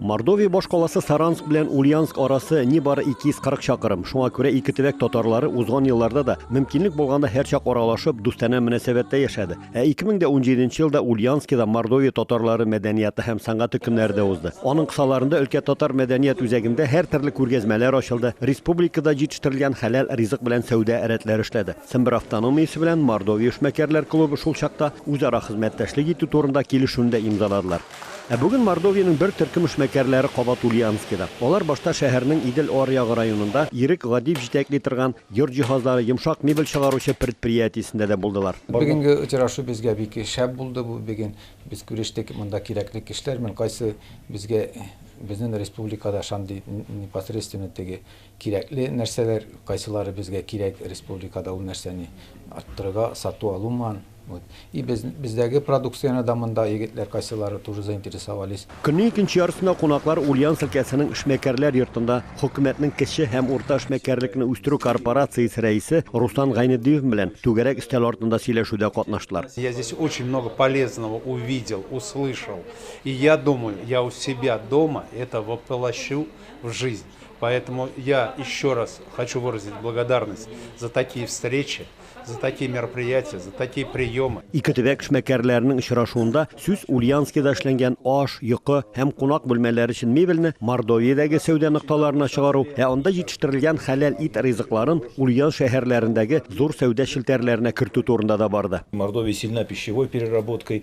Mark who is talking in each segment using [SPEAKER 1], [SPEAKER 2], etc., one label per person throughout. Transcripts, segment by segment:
[SPEAKER 1] Мордовия башкаласы Саранск белән Ульянск арасы нибары 240 чакырым. Шуңа күрә ике төбәк татарлары узган елларда да мөмкинлек булганда һәрчак аралашып, дустанә мөнәсәбәттә яшәде. Ә 2017 елда Ульянскида Мордовия татарлары мәдәнияты һәм сәнгате көннәре дә узды. Аның кысаларында өлкә татар мәдәният үзәгендә һәр төрле күргәзмәләр ачылды, республикада җитештерелгән хәләл ризык белән сәүдә рәтләре эшләде. Сембер автономиясе белән Мордовия эшмәкәрләр клубы шул чакта үзара хезмәттәшлек итү турында килешүне дә имзаладылар. Ә бүген Мордовиянең бер төркем эшмәкәрләре кабат Ульяновскида. Алар башта шәһәрнең Идел аръягы районында Ирек Гадиев җитәкли торган йорт җиһазлары, йомшак мебель чыгаручы предприятиесендә дә булдылар. Бүгенге очрашу
[SPEAKER 2] безгә бик шәп булды. Бу бүген без күрештек, монда кирәкле кешеләр белән, кайсы безгә безнен республикада шандый непосредственно теге Кирәкле нәрсәләр, кайсылары безгә кирәк, республикада ул нәрсәне арттырырга, сату алу ман, вот. И без, бездәге продукцияне дә монда егетләр кайсылары тоже заинтересовались. Көннең икенче яртысында
[SPEAKER 1] кунаклар Ульяновск өлкәсенең Эшмәкәрләр йортында Хөкүмәтнең кече һәм урта эшмәкәрлекне үстерү корпорациясе рәисе Руслан Гайнетдиев белән түгәрәк өстәл артында сөйләшүдә катнаштылар. Я здесь очень много
[SPEAKER 3] полезного увидел, услышал. И я думаю, я у себя дома это воплощу. в жизнь. Поэтому я еще раз хочу выразить благодарность за такие встречи, за такие мероприятия, за такие приемы. Ике төбәк эшмәкәрләренең
[SPEAKER 1] очрашуында сүз Ульянскида эшләнгән аш, йокы һәм кунак бүлмәләре өчен мебельне Мордовиядәге сәүдә нокталарына чыгару, ә анда җитештерелгән хәләл ит ризыкларын Ульян шәһәрләрендәге зур сәүдә челтәрләренә кертү турында да барды. Мордовия сильна пищевой
[SPEAKER 4] переработкой,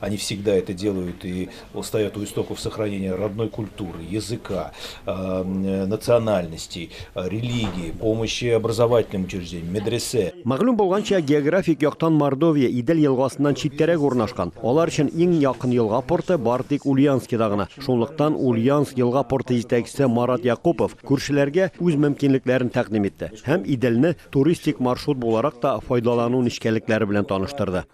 [SPEAKER 4] Они всегда это делают и стоят у истоков сохранения родной культуры, языка, национальностей, религии, помощи образовательным учреждениям, медресе. Мәгълүм булганча,
[SPEAKER 1] географик яктан Мордовия Идел елгасыннан читтәрәк урнашкан. Алар өчен иң якын елга порты бары тик Ульяновскида гына. Шунлыктан Ульяновск елга порты җитәкчесе Марат Якупов күршеләргә үз мөмкинлекләрен тәкъдим итте һәм Иделне туристик маршрут буларак та файдалану нечкәлекләре белән таныштырды.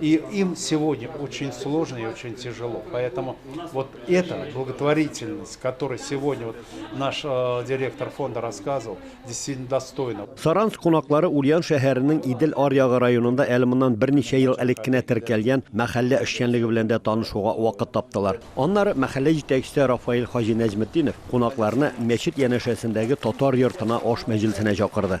[SPEAKER 3] И им сегодня очень сложно и очень тяжело. Поэтому вот эта благотворительность, которую сегодня вот наш э, директор фонда рассказывал, действительно достойна. Саранск кунаклары
[SPEAKER 1] Ульян шәһәренең Идел аръягы районында әле моннан берничә ел элек кенә теркәлгән мәхәллә эшчәнлеге белән дә танышуга вакыт таптылар. Аннары мәхәллә җитәкчесе Рафаил Хаҗи Нәҗметдинов кунакларны мәчет янәшәсендәге татар йортына аш мәҗлесенә чакырды.